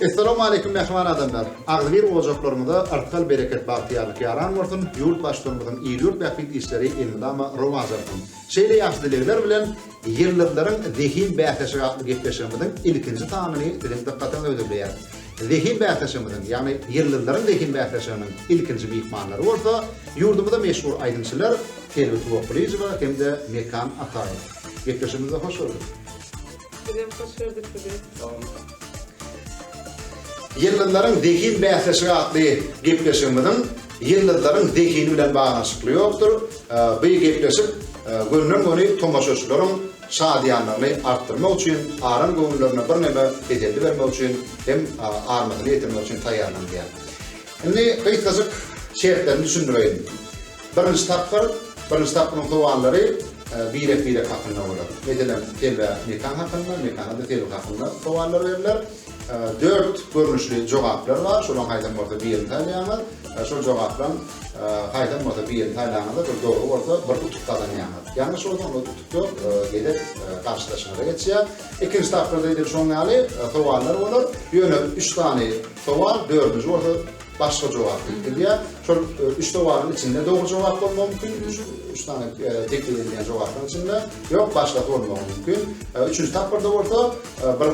Assalamualaikum mähriban adamlar. Agzybir ojaklarymyza artgal bereket bagtyýarlyk ýaran bolsun. Ýurt baştugumyzyň il-ýurt bähbit işleri elmydama rowaç alsyn. Şeýle ýagşy dilegler bilen Ýyldyzlaryň zehin bäsleşigi atly gepleşigimiziň ilkinji sanyny siziň dykgatyňyza hödürleýäris. Zehin bäsleşigimiziň, ýagny Ýyldyzlaryň zehin bäsleşiginiň ilkinji myhmanlary bolsa, ýurdumyza meşhur aýdymçylar Selbi Tuwakgylyjowa hem-de Mekan Ataýew. Gepleşigimize hoş geldiňiz! Bizem hoş gördük sizi. Sag boluň. Ýyldyzlaryň zehin bäsleşigi atly gepleşigimiziň ýyldyzlaryň zehini bilen baglanyşykly ýokdur. Bu gepleşik gönden-göni tomaşaçylaryň şadyýanlygyny artdyrmak üçin, aram göwünlerine birneme teselli bermek üçin hem armasyny ýetirmek üçin taýýarlanylýar. Indi gysgajyk şertlerini düşündireýin. Birinji tapgyr, birinji tapgyryň sowallary birek-birek hakynda bolar. Meselem, telbe mekan hakynda, mekana-da telbe hakynda sowallar berler. Dört görnüşli jogaplar bar, şolaryň haýsam bolsa birini saýlaýaňyz. Şol jogaplaryň haýsam bolsa birini saýlaňyzda bir dogry bolsa bir utuk gazanýaňyz. Ýalňyş bolsa onda utuk ýok, gezek garşydaşyňyza geçýär. Ikinji tapgyrda edil şoň ýaly sowallar bolar. Ýöne üç sany sowal, dördünji bolsa başga jogap berip bilýär. Şol üç jogabyň içinde dogry jogap bolmagy mümkin, üç sany e, teklip edilýän jogabyň içinde, ýok başga bolmagy mümkin. E, üçünji tapgyrda bolsa e, bir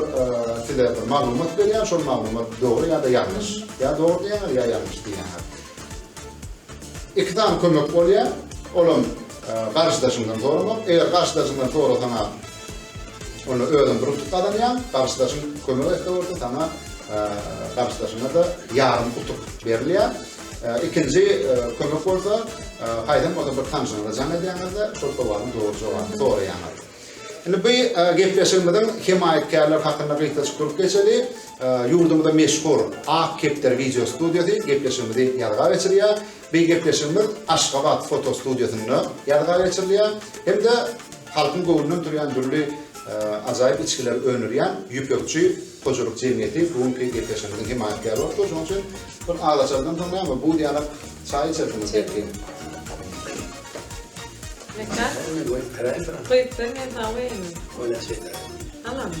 size bir maglumat berýär, şol maglumat dogry ýa-da ýalňyş, ýa dogry diýýär, ýa ýalňyş diýýär. Iki sany kömek bolýar, olam garşydaşyňdan soramak, eger garşydaşyňdan sorasaňa Onda özüň bir utuk gazanýaň, garşydaşyň kömek etse bolsa saňa garşydaşyňa-da ýarym utuk berilýär. Ikinji kömek bolsa, haýsam bolsa bir tanşyňyza jaň edýäňizde, şol sowalyň dogry jogabyny soraýaňyz. Indi bu gepleşigimiziň hemaýatkärleri hakynda gysgajyk durup geçeli. Ýurdumyzda meşhur Ak kepder wideo studiýasy gepleşigimizi ýazga geçirýär. Beý gepleşigimiz Aşgabat foto studiýasynda ýazga geçirilýär hem-de halkyň göwnünden turýan dürli ajaýyp içgileri öndürýän Ýüpekçi hojalyk jemgyýeti bu günki gepleşigimiziň hemaýatkäri bolup dur. Şonuň üçin bir az açardan soň näme, buz ýaly çaý içersiňiz belki. Mekan? Gyzdyr men saňa goýaýyn. Oýnaşaýlar. Alamy?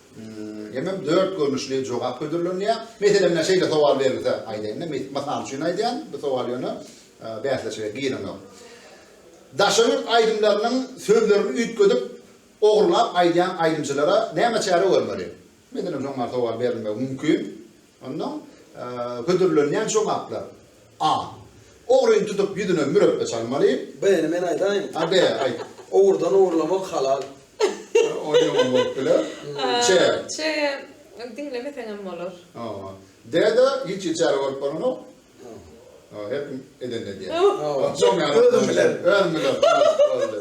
Hemem dört görnüşli jogap hödürlenýär. Meselem, mena şeýle sowal berilse, aýdaýyn-da, mysal üçin aýdýan, bu sowal ýöne bäsleşige girenok. Daşary ýurt aýdymlarynyň sözlerini üýtgedip, ogrulap aýdýan aýdymçylara näme çäre görmeli? Meselem, şoň bar sowal berilmegi mümkin. Ondan hödürlenýän jogaplar, A. Ogryny tutup ýüzüne mürepbe çalmaly. B-ni men aýdaýyn. A, B, aýt. Ogurdan ogurlamak halal. O ýaman bolup biler. Ç. Ç, diňlemeseňem bolar. Hawa. D-de hiç hili çäre görüp bolanok. Hawa. Her kim edenini edýär. Hawa. Özüm bilen. Özüm bilen. Boldy.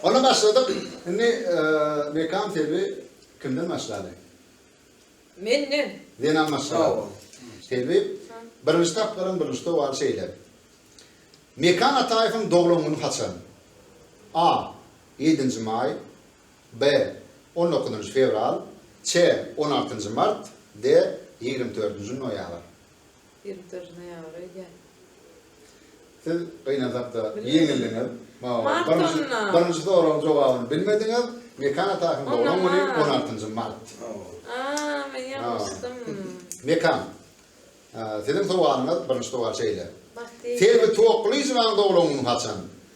Onda başladyk. Indi Mekan Selbi kimden başlaly? Menden. Zenan maşgala. Selbi, Birinji tapgyryň birinji sowaly şeýle. Mekan Ataýewiň doglan güni haçan? A. Ýedinji maý. B. On dokuzynjy fewral. Ç. On altynjy mart. D. Ýigrimi dördünji noýabr. Ýyldyz ne ýaly öýdýän. Siz gynansakda ýeňildiňiz. Maňa birinji soragyň jogabyny bilmediňiz. Mekan Atakowyň doglan güni on altynjy mart. Aa men ýalňyşdym. Mekan. Siziň sowalyňyz birinji sowal şeýle. Selbi Toklyjowanyň doglan güni haçan?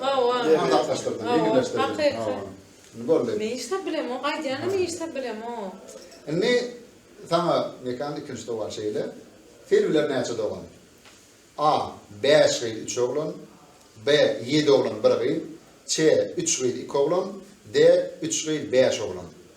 Hawa. Maslahatlaşdyrdyň, ýeňilleşdirdiň. Hakykat. Hawa. Indi boldy. Men iş tap bilemok, aýdýanam iş tap bilemok. Indi saňa Mekan ikinji sowal şeýle. Selbiler näçe dogan? A. Bäş gyz, üç oglan. B. Ýedi oglan, bir gyz. Ç. Üç gyz, iki oglan. D. Üç gyz, bäş oglan.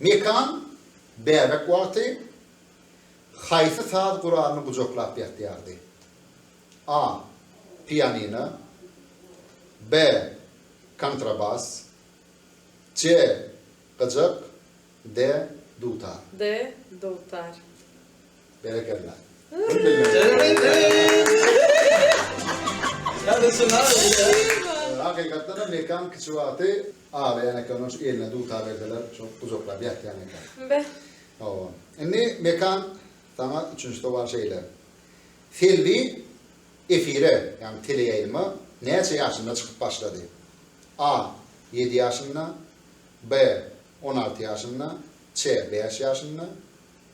Mekan, bäbek wagty haýsy saz guralyny gujaklap ýatýardy? A. Pianino B. Kontrabas C. Gyjak D. Dutar. D. Dutar. Berekella. Hakykatdanam Mekan kiçi wagty aglaýan eken, onuň üçin eline dutar berseler, şol gujaklap ýatýan eken. Be. Hawa. Indi Mekan saňa üçünji sowal şeýle. Selbi efire, ýagny teleýaýlyma näçe ýaşynda çykyp başlady? A. Ýedi ýaşynda. B. On alty ýaşynda. Ç. Bäş ýaşynda.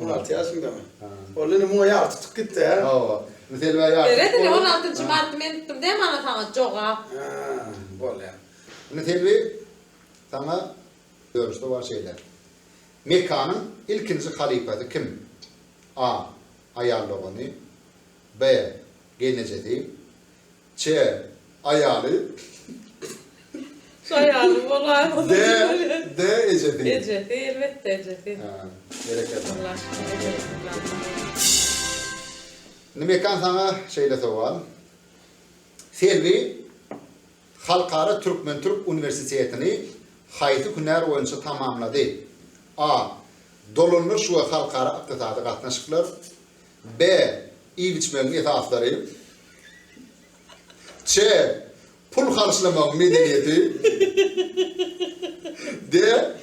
On alty ýaşyndamy? Onda indi muňa ýagy tutup gitdi-ä. Hawa. Selbä ýagy tutup boldy. Ine, on altynjy marty men tutdum däl mana saňa jogap. Bolýar. Indi Selbi, saňa görnüşde bar şeýle. Mekanyň ilkinji halypasy kim? A. Aýal dogany. B. Gelnejesi. Ç. Aýaly. Şu aýaly bolaýsa. D. D. Ejesi. Ejesi, elbetde ejesi. Hä, berekella. Allah şuny ejesini ýalkasyn. Indi Mekan saňa şeýle sowal. Selbi Halkara türkmen-türk uniwersitetini haýsy hünär boýunça tamamlady? A. Dolandyryş we halkara ykdysady gatnaşyklar, B. Iýip-içmegiň esaslary. C. Pul harçlamagyň medeniýeti. D.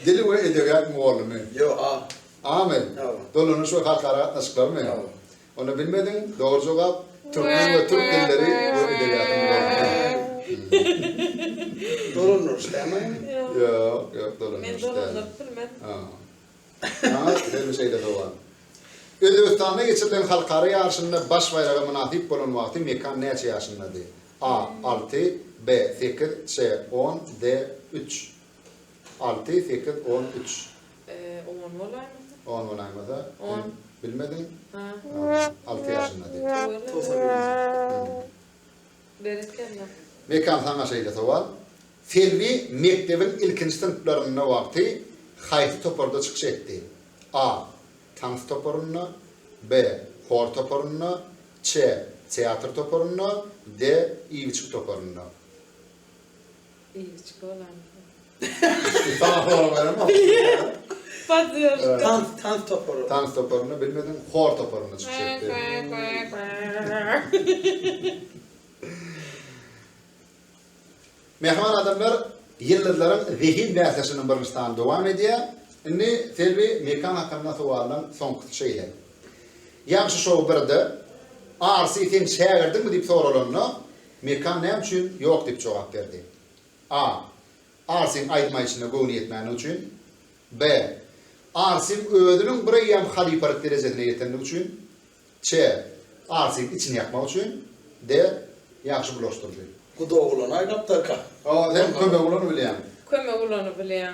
Dil we edebiýat mugallymy. Ýo, A. A-my? Hawa. Dolanyş we halkara gatnaşyklary-my? Hawa. Onda bilmediň, dogry jogap, Türkmen we türk dilleri we edebiýaty mugallymy. Dolandyryş däl-mi? Ýok, ýok, dolandyryş däl. Men dolandyryp bilmedim. Saňa hemişe şeýle dowam. Özbegistanda geçirilen halkara ýaryşynda baş baýraga mynasyp bolan wagty Mekan näçe ýaşyndady? A. Alty, B. Sekiz, Ç. On, D. Üç. Alty, sekiz, on, üç. On bolaýmasa? On bolaýmasa? On. Bilmediň? Alty ýaşyndady. Togsan birinji. Berekella. Mekan saňa şeýle sowal, Selbi mekdebiň ilkinji synplarynda wagty haýsy toparda çykyş etdi? A. Tans toparynda B. Hor toparynda C. Teatr toparynda D. Iýgiçgi toparynda. Iýgiç bolan. Sana soraw beremok. Podderşka. Tans, tans topary. Tans toparynda bilmediň, hor toparynda çykyş etdi. Mehman adamlar ýyldyzlaryň zehin bäsleşiginiň birinji sany dowam edýär. Indi Selbi mekan hakynda sowalyň soňkusy şeýle. Ýagşy şou birde Arsy sen şägirdiňmi diýip soralanda, Mekan näme üçin ýok diýip jogap berdi? A. Arsim aýdym-aýdyşyna göwni ýetmändigi üçin. B. Arsim özüniň bir eýýam halypalyk derejesine ýetendigi üçin. C. Arsim içini ýakmak üçin. D. Ýagşy bulaşdyryjy. Guda oglany aýlapdyrka. Sen kömek ulany bilýäň. Kömek ulany bilýäň.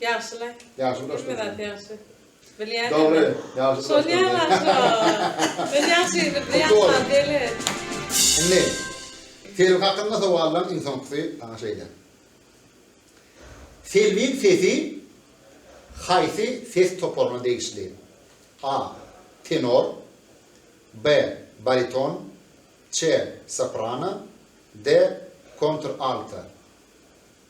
Ýagşy la. Ýagşy dost. Hemme zat ýagşy. Bilýän. Dogry. Ýagşy dost. Şony ýalan. Men ýagşy ýigit ýagşy däl. Indi Selbi hakynda sowallaryň iň soňkusy saňa şeýle. Selbiň sesi haýsy ses toparyna degişli? A. Tenor B. Bariton C. Soprano D. Kontr-alto.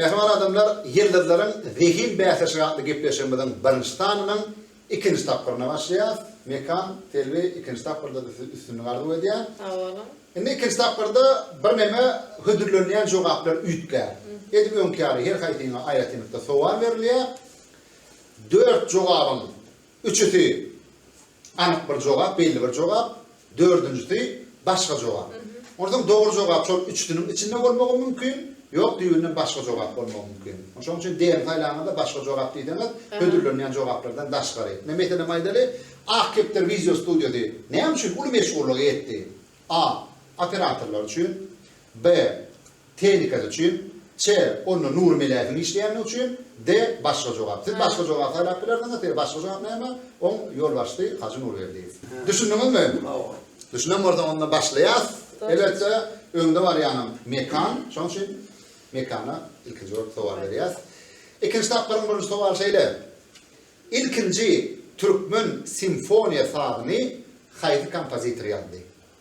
Mähriban adamlar, Ýyldyzlaryň zehin bäsleşigi atly gepleşigimiziň birinji sanynyň ikinji tapgyryna başlaýarys. Mekan, Selbi, ikinji tapgyrda-da size üstünlik arzuw edýän. Sag boluň. Indi ikinji tapgyrda birneme hödürlenýän jogaplar üýtgär. Edil öňki ýaly, her haýsyňa aýratynlykda sowal berilýär. Dört jogabyň Üçüsi, anyk bir jogap, belli bir jogap, dördünjisi, başga jogap. Onsoň dogry jogap şol üçüsiniň içinde bolmagy mümkin, ýok düýbünden başga jogap bolmagy mümkin. Şonuň üçin D-ni saýlaňyzda başga jogap diýseňiz, hödürlenýän jogaplardan daşgary. Ine, meselem aýdaly, Ak kepder wideostudiýasy näme üçin uly meşhurlygy ýetdi? A. Operatorlar üçin. B. Tehnikasy üçin. C. Onda Nury Melähiň işleýändigi üçin. D. Başga jogap. Siz başga jogap saýlap bilersiňiz. D. Başga jogap näme? Oň ýolbaşçysy Hajy Nurberdiýew. Düşündiňizmi? Düşünen bolsaň onda başlaýas. Elbetde öňde barýanam Mekan. Şonuň üçin Mekana ilkinji bolup sowal berýäs. Ikinji tapgyryň birinji sowaly şeýle. Ilkinji türkmen simfoniýa sazyny haýsy kompozitor ýazdy?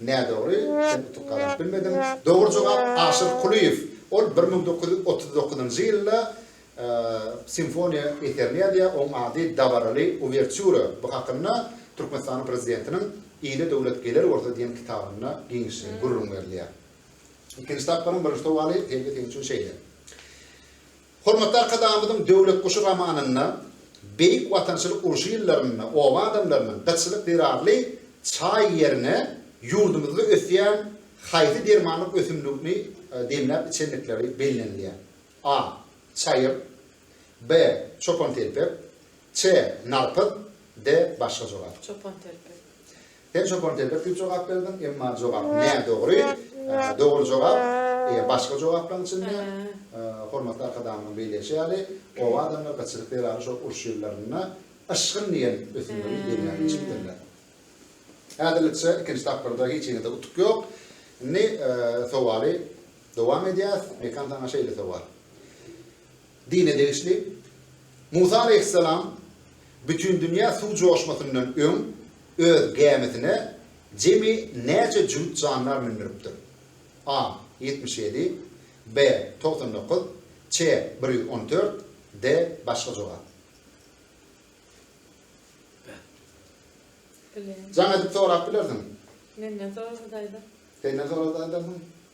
Nädogry, sen utuk gazanyp bilmediň. Dogry jogap Aşyr Kulyýew. Ol bir müň dokuz ýüz otuz dokuzynjy ýylda simfoniýa eserini ýazýar, oň ady Dabaraly uwertýura. Bu hakynda Türkmenistanyň Prezidentiniň Ile döwlet geler bolsa diýen kitabynda giňişleýin gürrüň berilýär. Ikinji tapgyryň birinji sowaly, Selbi, seň üçin şeýle. Hormatly Arkadagymyzyň Döwlet guşy romanynda Beýik Watançylyk urşy ýyllarynda oba adamlarynyň gytçylyk zerarly çaý ýerine ýurdumyzda ösýän haýsy dermanlyk ösümligini demläp içendikleri bellenilýär. A. Çaýyr. B. Çopantelpek. C. Narpyz. D. Başga jogap. Çopantelpek. Sen çopan telpek diýip jogap berdiň, emma jogap nädogry. Dogry jogap başga jogaplaryň içinde, hormatly Arkadagymyzyň belleýşi ýaly, oba adamlar gytçylyk zerarly şol uruş ýyllarynda yşgyn diýen ösümligi demiýan içipdirler. Häzirlikçe ikinji tapgyrda hiç hili-de utuk ýok. Indi sowaly dowam edýäs. Mekan saňa şeýle sowal. Dine degişli, Musa aleýhissalam Bütindünýä suw joşmasyndan öň öz gämisine jemi näçe jübüt jandar mündüripdir? A. Ýetmiş ýedi B. Togsan dokuz C. Bir ýüz on dört D. Başga jogap. Jaň edip sorap bilersiň. Menden sorasa-da aýdar. Senden sorasa-da aýdarsyň.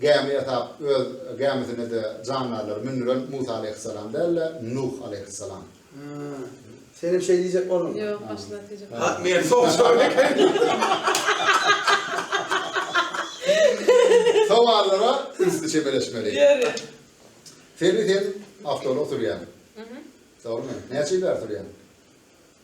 Gämi ýasap, öz gämisine-de jandarlary mündüren Musa aleýhyssalam däl-de, Nuh aleýhyssalam. Haa. Senem şeý diýjek bolduň. Ýok, başyna tejep. Ha, men soruşan ekenim. Sowallara ünsli çemeleşmeli. Ýeri. Selbi sen awtoulag sürýäň. Dogrymy? Näçe ýyllar sürýäň?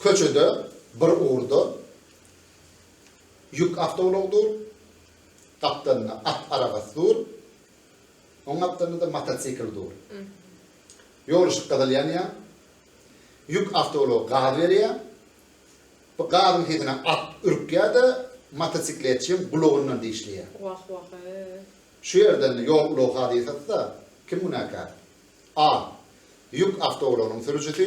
Köçede bir ugurda ýük awtoulagy dur, gapdalynda at arabasy dur, oň gapdalynda-da motosikl dur. Ýol yşyk gyzyl ýanýar. Ýük awtoulagy gaz berýär. Bu gazyň sesine at ürkýär-de, motosikletçiň gulagyndan dişleýär. Wah-wah-eý! Şu ýerden-de ýol ulagy hadysasy-da kim günäkär? A. Ýük awtoulagynyň sürüjisi.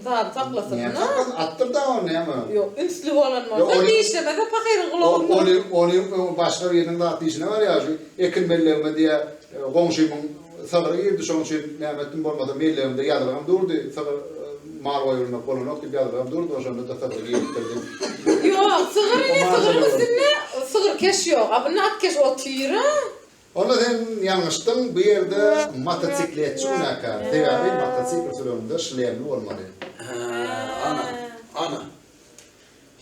Zady saklasyn. Näme saklasyn? Atdyr da ony näme? Ýok, ünsli bolan bolsa dişlemese pahyryň gulagyny. Ony, ony başga biriniň zat dişine barýar şu. Ekin mellegime diýä goňşymyň sygyry girdi şoň üçin näme etdim bolmasa mellegimde ýazygam durdy. Sygyr mal goýbermek bolanok diýip ýazygam durdy oşonda-da sygyry giripdir diýip. Ýok, sygyr ine sygyryň üstünde sygyrkeş ýok. A bunda atkeş otyr-a. Onda sen ýalňyşdyň, bu ýerde motosikletçi günäkär, sebäbi motosikl sürenimde şlemli bolmaly. Hä, ana, ana.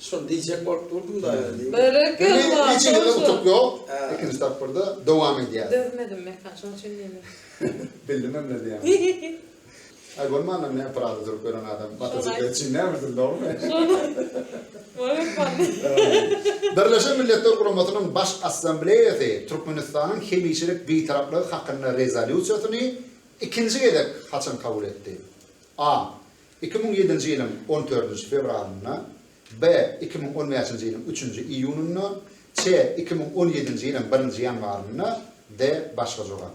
Şony diýjek bolup durdum-da. Berekella, Indi şonçun. birinjisinde utuk ýok, Hä. ikinji tapgyrda dowam edýäs. Dözmedim Mekan, şonçun diýdim. Bildim hem nädýäni. Ay bolmanda ne Prada durup gören adam motosikleti için ne bilsin doğru mu? Birleşen Milletler Guramasynyň Baş Assambleýasy Türkmenistanyň hemişelik Bitaraplygy hakynda rezolýusiýasyny ikinji gezek haçan kabul etdi? A. Iki müň ýedinji ýylyň on dördünji fewralynda B. Iki müň on bäşinji ýylyň üçünji iýunynda Ç. Iki müň on ýedinji ýylyň birinji ýanwarynda D. Başga jogap.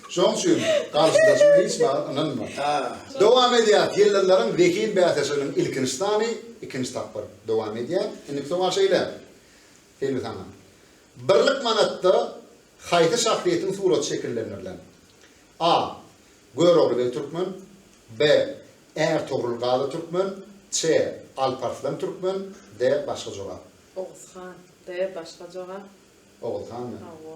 Şoň üçin garşydaşyňa hiç wagt ynanma. Dowam edýär Ýyldyzlaryň zehin bäsleşiginiň ilkinji sany ikinji tapgyr dowam edýär. Indiki sowal şeýle, Selbi saňa. Birlik manatda haýsy şahsyýetiň suraty şekillendirilen? A. Görogly beg türkmen B. Ärtogrul Gazy türkmen C. Alparslan türkmen D. Başga jogap. Oguz han. D. Başga jogap. Oguz hanmy? Hawa.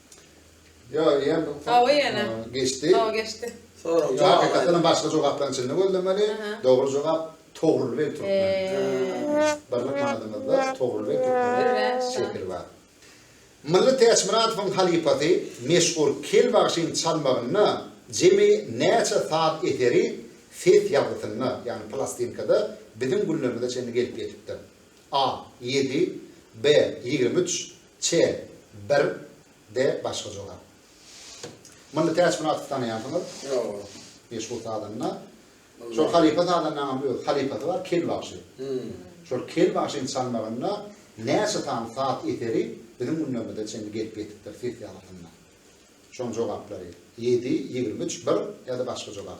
Yo, ýen bu. Hawa ýene. Geçdi. Hawa geçdi. Soraň. Jogap hakykatdan başga jogaplaryň içinde gözlemeli. Dogry jogap Togrul beg türkmen. Birlik manadymyzda Togrul beg türkmen şekili bar. Mylly Täçmyradowyň halypasy meşhur Kel bagşyň çalmagynda jemi näçe saz eseri ses ýazgysynda, ýagny plastinkada biziň günlerimize çenli gelip ýetipdir. A. Ýedi, B. Ýigrimi üç, C. Bir, D. Başga jogap. Mylly Täçmyratowy tanaýarsyňyz? Ýoga. Meşhur sazanda. Şol halypa sazandaňam öz halypasy bar, Kel bagşy. Şol Kel bagşynyň çalmagynda näçe sany saz eseri biziň günlerimize çenli gelip ýetipdir ses ýazgysynda. Şoň jogaplary, ýedi, ýigrimi üç, bir, ýa-da başga jogap.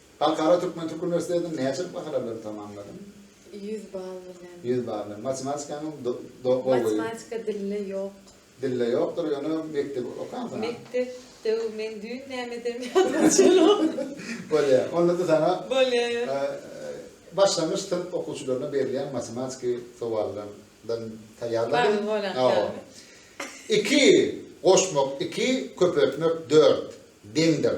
Halkara türkmen türk uniwersitetini näçe bahana bilen tamamladyň? Ýüz bal bilen. Ýüz bal bilen. Matematikaňam gowy. Matematika dilde ýok. Dilde ýokdur, ýöne mekdebi okansoň. Mekdep döw men düýn näme edem ýadyma çylam. Bolýa. Onda-da saňa. Bolýa. Başlangyç synp okuwçylaryna berilýän matematiki sowallardan taýýarladyň. Bar bolan. Iki goşmak iki, köpeltmek dört deňdir.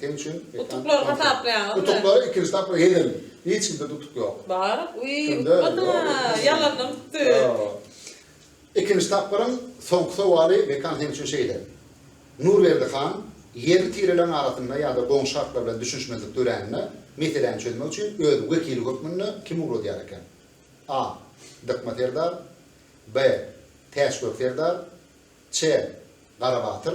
Sen üçin utuklary hasaplaýaňyzmy? Utuklary ikinji tapgyr eden. Hiç kimde utuk ýok. Bar. Uý, utmada. Ýalandan utdy. Ikinji tapgyryň soňky sowaly Mekan sen üçin şeýle. Nurberdi han ýerli tireleriň arasynda ýa-da goňşy halklar bilen düşünişmezlik dörände meseläni çözmek üçin öz wekili hökmünde kimi ugradýar eken? A. Dykma serdar B. Täçgök serdar Ç. Garabatyr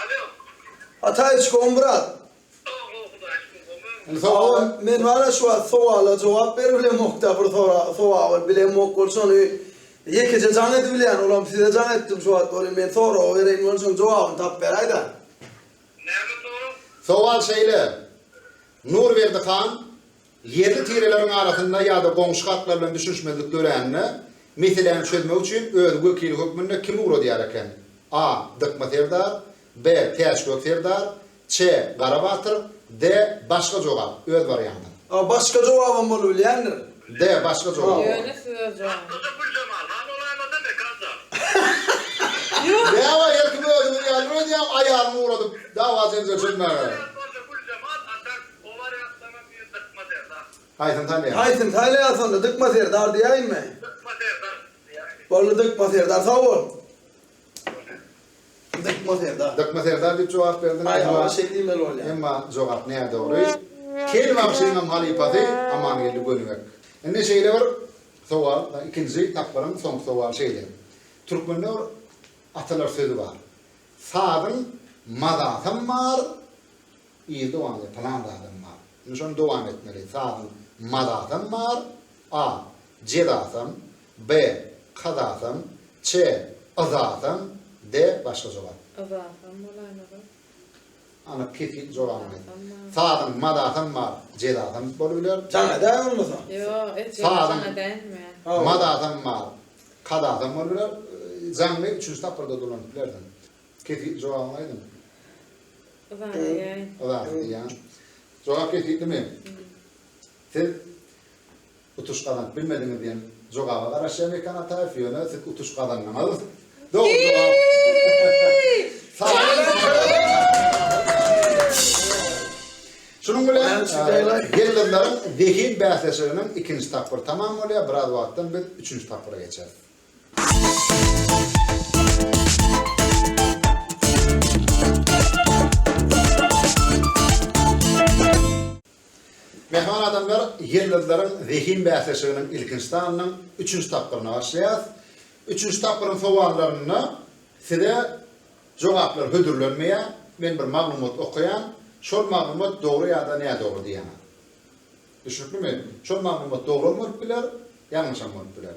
Alo. Ataý çkom brat. Sag bol Hudaý şükür gomy. Hawa men bana şu wagt sowala jogap beribilemokda bir sowaby bilemok bolsa ony ýekeje jaň edibilýän olam size jaň etdim şu wagt ony men soragy bereýin bolany şoň jogabyny tapyp beräýda. Näme sorag? Sowal şeýle Nurberdi han Ýerli tireleriň arasynda ýa-da goňşy halklar bilen düşünişmezlik dörände, meseläni çözmek üçin öz wekili hökmünde kimi ugradýar eken? A. Dykma serdar. B. Täçgök serdar. C. Gara batyr. D. Başga jogap, öz barýaňda. A. Başga jogabam bolubilýändir. D. Başga jogap. Ýönes öz jogap. Atlyja Güljemal han bolaýmasa Mekan jan. Däwa her kim özüňiz ýaly öýdýäň aýalyňy ugradyp dawa jenjel çözmäge. Ýönes bolsa Güljemal atak. Oba reaklamam diýen Dykma serdar. Haýsyny tanýaň? Haýsyny saýlaýas onda Dykma serdar diýäýinmi? Dykma serdar diýäýin. Boldy Dykma serdar sag bol. Dykma serdar. Dykma serdar diýip jogap berdiň. Aý hawa şeý diýmeli bolýar. Emma jogap nädogry. Kel bagşynyňam halypasy Amangeldi Gönübek. Indi şeýle bir sowal ikinji tapgyryň soňky sowaly şeýle. Türkmende bir atalar sözi bar. Sazyň mazasam bar, Ir dowamly pylan zadam bar. Indi şony dowam etmeli. Sazyň mazasam bar, A. Jezasam, B. Kazasam, C. Yzasam, D. Başga jogap. Yzasam bolaýmaly. Anyk, kesin jogabyny aýt. Yzasam bar. Sazyň mazasam bar, jezasam bolup biler. Jaňa däl bolmasa. Ýok, et ýok, Sazyň- jaňa dälmi? Mazasam bar, kazasam bolup biler. Jaňly üçünji tapgyrda dolanyp bilersiň. Kesgitli jogabyňy aýdyň. Yzany diýäýin. Yzany diýýän. Jogap kesgitlimi? Siz utuş gazanyp bilmediňiz diýen jogaba garaşýan Mekan Ataýew, ýöne siz utuş gazandyňyz. Dogry jogap. Şunuň bilen gelin-gyzlaryň zehin bäsleşiginiň ikinji tapgyry tamam bolýar. Biraz wagtdan biz üçünji tapgyra geçeris. Mähriban adamlar, Ýyldyzlaryň zehin bäsleşiginiň ilkinji sanynyň üçünji tapgyryna başlaýarys. Üçünji tapgyryň sowallarynda size jogaplar hödürlenmeýär, men bir maglumat okaýan, şol maglumat dogry ýa-da nädogry diýýän. Düşnüklimi? Şol maglumat dogry hem bolup biler, ýalňyş hem bolup biler.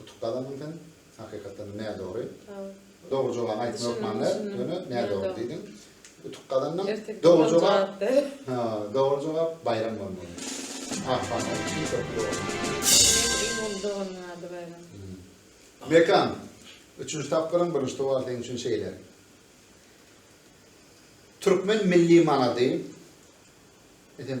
Utup galandyň sen hakykatdan nädogry. Dogry jogaby aýtmak hökmanda ýöne nädogry diýdiň. Utup galandyň. Dogry jogap. Ha, dogry jogap baýram bolmaly. Akpamyk üçin köp Mekan, üçünji tapgyryň birinji towar seň üçin şeýle. Türkmen milli manady, edem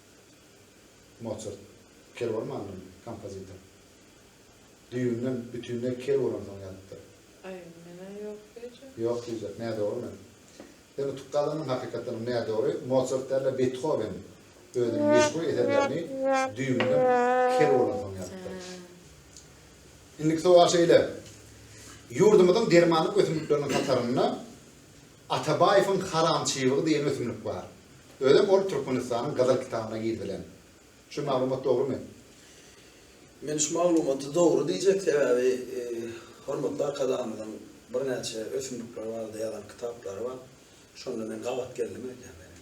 Motsart, kel bolman alnymy? Kompozitor. Düýbünden bütinleý kel bolansoň ýazypdyr. Aý, men-ä ýok diýjek. Ýok diýjek, nädogry men. Men utup galynym, hakykatdanam nädogry. Motsart däl-de, Bethowen özüniň meşhur eserlerini düýbünden kel bolansoň ýazypdyr. Indiki sowal şeýle, Ýurdumyzyň dermanlyk ösümlikleriniň hatarynda Atabaýewiň haram çybygy diýen ösümlik bar. Özem ol Türkmenistanyň Gyzyl kitabyna girizilen. Şu maglumat dogrumy? Men şu maglumaty dogry diýjek, sebäbi hormatly Arkadagymyzyň birnäçe ösümlikler barada ýazan kitaplary bar. Şonda men gabat geldim öýdýän welin.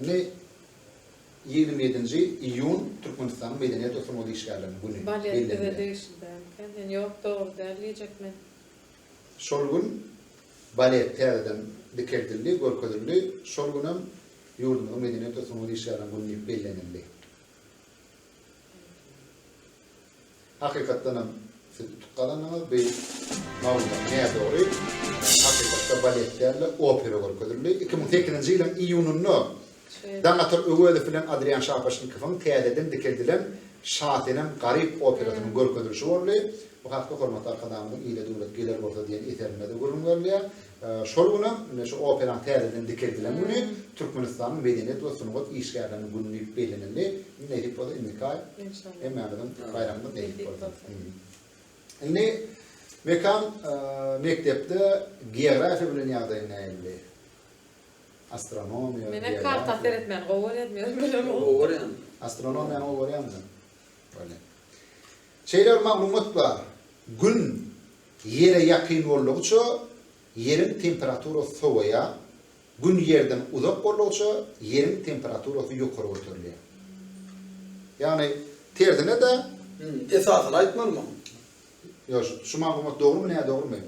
Indi ýigrimi ýedinji iýun Türkmenistanyň Medeniýet we sungat işgärleriniň güni bellenilýär. Şol gün balet täzeden dikeldildi, görkezildi. Şol gün hem ýurdumyzyň Medeniýet we sungat işgärleriniň güni diýip bellenildi. Hakykatdanam siz utuk gazandyňyz beýik maglumat ne dogry hakykatda balet dälde opera görkezildi iki müň sekizinji ýylyň iýunynda Daňatar Öwezow bilen Adrian Şapaşnikowyň täzeden dikeldilen Şasenem Garyp operasynyň görkezilişi boldy bu hakda hormatly Arkadagymyzyň Ile döwlet geler bolsa diýen eserinde-de gürrüň berilýär Şol gün hem, ine, şu operaň täzeden dikeldilen güni Türkmenistanyň medeniýet we sungat işgärleriniň güni diýip bellenildi. Nesip bolsa, indiki aý hemmämiziň baýramymyz nesip bolsa. Indi Mekan mekdepde geografiýa bilen ýagdaýyň nähili? Astronomiýa, Mene karta seretmän gowy görýän men bilen. Gowy görýän. Astronomiýany gowy görýänmi? Şeýle bir maglumat bar. Gün Ýere ýakyn boldugyça, Ýeriň temperaturasy sowaýar, Gün Ýerden uzak boldugyça, Ýeriň temperaturasy ýokary göterilýär. Ýagny, tersine-de. Esasyny aýtmalymy? Ýoş, şu maglumat dogrumy, nädogrumy?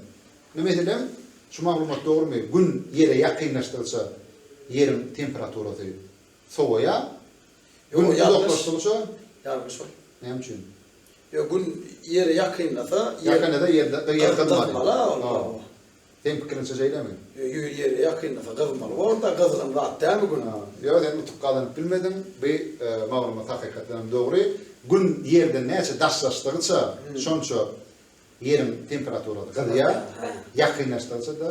Indi, meselem, şu maglumat dogrumy, Gün Ýere ýakynlaşdygyça, Ýeriň temperaturasy sowaýar, Gün uzaklaşdygyça. Ýalňyş ol. Näme üçin? Ýok, Gün Ýere ýakynlasa, Ýakynlasa Ýerde gyzmaly. Seň pikiriňçe şeýlemi? Gün Ýere ýakynlasa gyzmaly bor-da, gyzgyn zat dälmi Gün? Ýok, sen utuk gazanyp bilmediň. Bu maglumat hakykatdan hem dogry. Gün Ýerden näçe daşlaşdygyça, şonça Ýeriň temperaturasy gyzýar, ýakynlaşdygyça-da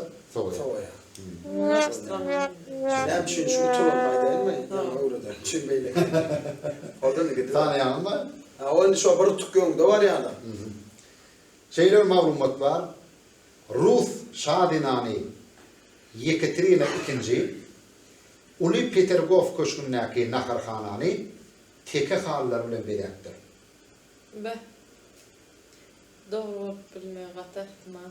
Şeýle bir maglumat bar, rus şa zenany Ýekaterina II Uly Petergof köşgündäki naharhanany teke halylar bilen bezäpdir. Beh. Dogry bolup bilmegi gaty ähtimal.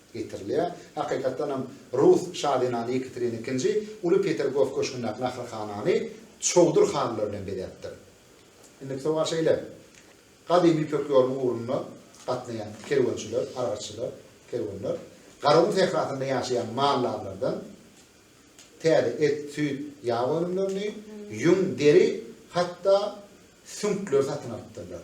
getirilýär. Hakykatdan hem rus şazenany Ýekaterina II uly Petergof köşgündäki naharhanany çowdur halylar bilen bezäpdir. Indiki sowal şeýle, Gadymy Ýüpek ýolunyň ugrunda gatnaýan kerwençiler, aragatçylar, kerwenler Garagum sährasynda ýaşaýan maldarlardan täze et, süýt, ýag önümlerini, ýüň, deri, hatda süňkleri satyn alypdyrlar.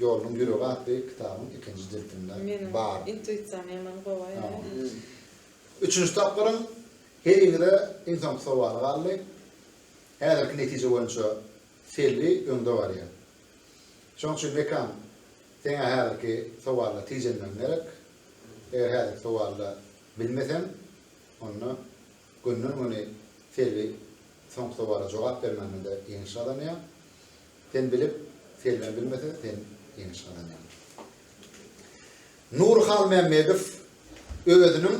Ýoluň ýüregi atly kitabyň ikinji jiltinde bar. Intuisiýam ýaman gowy aýdýar. Üçünji tapgyryň heriňize iň soňky sowaly galdy. Häzirki netije boýunça Selbi öňde barýar. Şonuň üçin Mekan seň-ä häzirki sowalda tijenmegiň gerek. Eger häzirki sowalda bilmeseň, onda günden-güni Selbi soňky sowala jogap bermände-de ýeňiş gazanýar. Sen bilip, Selmän bilmese, sen ýeňiş gazanýaň. Nur Halmämmedow özüniň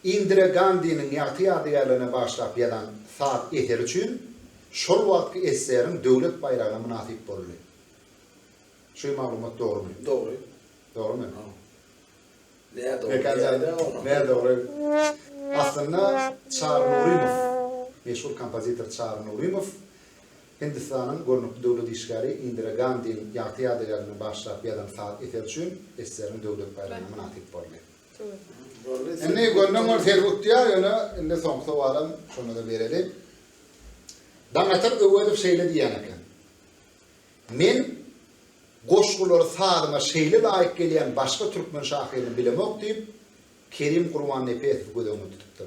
Indira Gandiniň ýagty ýadygärligine bagyşlap ýazan saz eseri üçin şol wagtky SSR-iň Döwlet baýragyna mynasyp boldy. Şu maglumat dogrumy? Dogry. Dogrumy? Nä dogry? Nä dogry? Aslynda Çary Nurymow, meşhur kompozitor Çary Nurymow Hindistanyň görnükli döwlet işgäri Indira Gandiň ýagty ýadygärini bagyşlap ýazan saz eseri üçin eseriň döwlet baýragyna mynasyp boldy. Indi gönden gün sergi utýar, ýöne indi soňky sowalam şonda-da bereli. Daňatar Öwezow şeýle diýýän eken, Men goşgulary sazyma şeýle laýyk gelýän başga türkmen şahyryny bilemok diýip, Kerim Gurbannepesowy göz öňünde tutupdyr.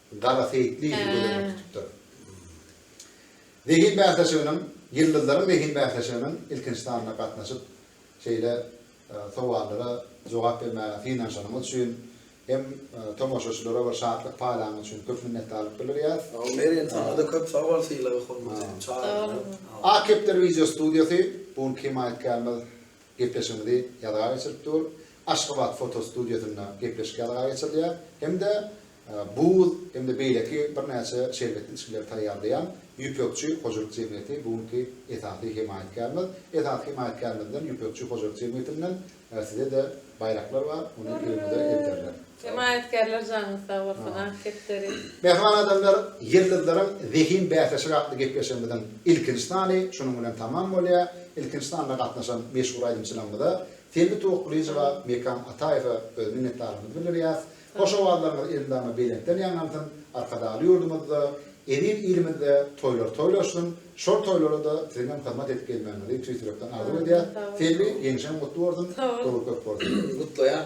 Gara seýitli ýigidi göz öňünde tutupdyr. Zehin bäsleşiginiň, Ýyldyzlaryň zehin bäsleşiginiň ilkinji sanyna gatnaşyp, şeýle sowallara jogap bermäge synanyşanyňyz üçin hem tomaşaçylara bir şatlyk paýlanyňyz üçin köp minnetdarlyk bildirýäs. Sagbol Mergen, saňa-da köp sagbol sylagy, hormaty, çagyryňa. Ak kepder wideostudiýasy, bu gün kemaýatkärimiz Gepleşigimizi ýazga geçirip dur. Aşgabat fotostudiýasynda gepleşik ýazga geçirilýär hem-de buz hem-de beýleki birnäçe şerbetli içgileri taýýarlaýan Ýüpekçi hojalyk jemgyýeti bu günki esasy hemaýatkärimiz. Esasy hemaýatkärimiz bilen Ýüpekçi hojalyk jemgyýetinden size-de baýraklar bar, ony öýüňize elterler. Hemaýatkärler janyňyz sag bolsun Ak kepderi. Mähriban adamlar, Ýyldyzlaryň zehin bäsleşigi atly gepleşigimiziň ilkinji sany şunuň bilen tamam bolýar. Ilkinji sanda gatnaşan meşhur aýdymçylarymyza, Selbi Towakgylyjowa, Mekan Ataýewe öz minnetdarlygymyzy bildirýäs. Hoş owazlaryňyz elmydama belentden ýaňlansyn, Arkadagly ýurdumyzda, eziz ilimizde toýlar toýlaşsyn, Şol toýlara-da siziňem hyzmat edip gelmäňizi tüýs ýürekden arzuw edýäs. Selbi, ýeňşeň gutly bolsun, dowul köp bolsun! Gutlaýan!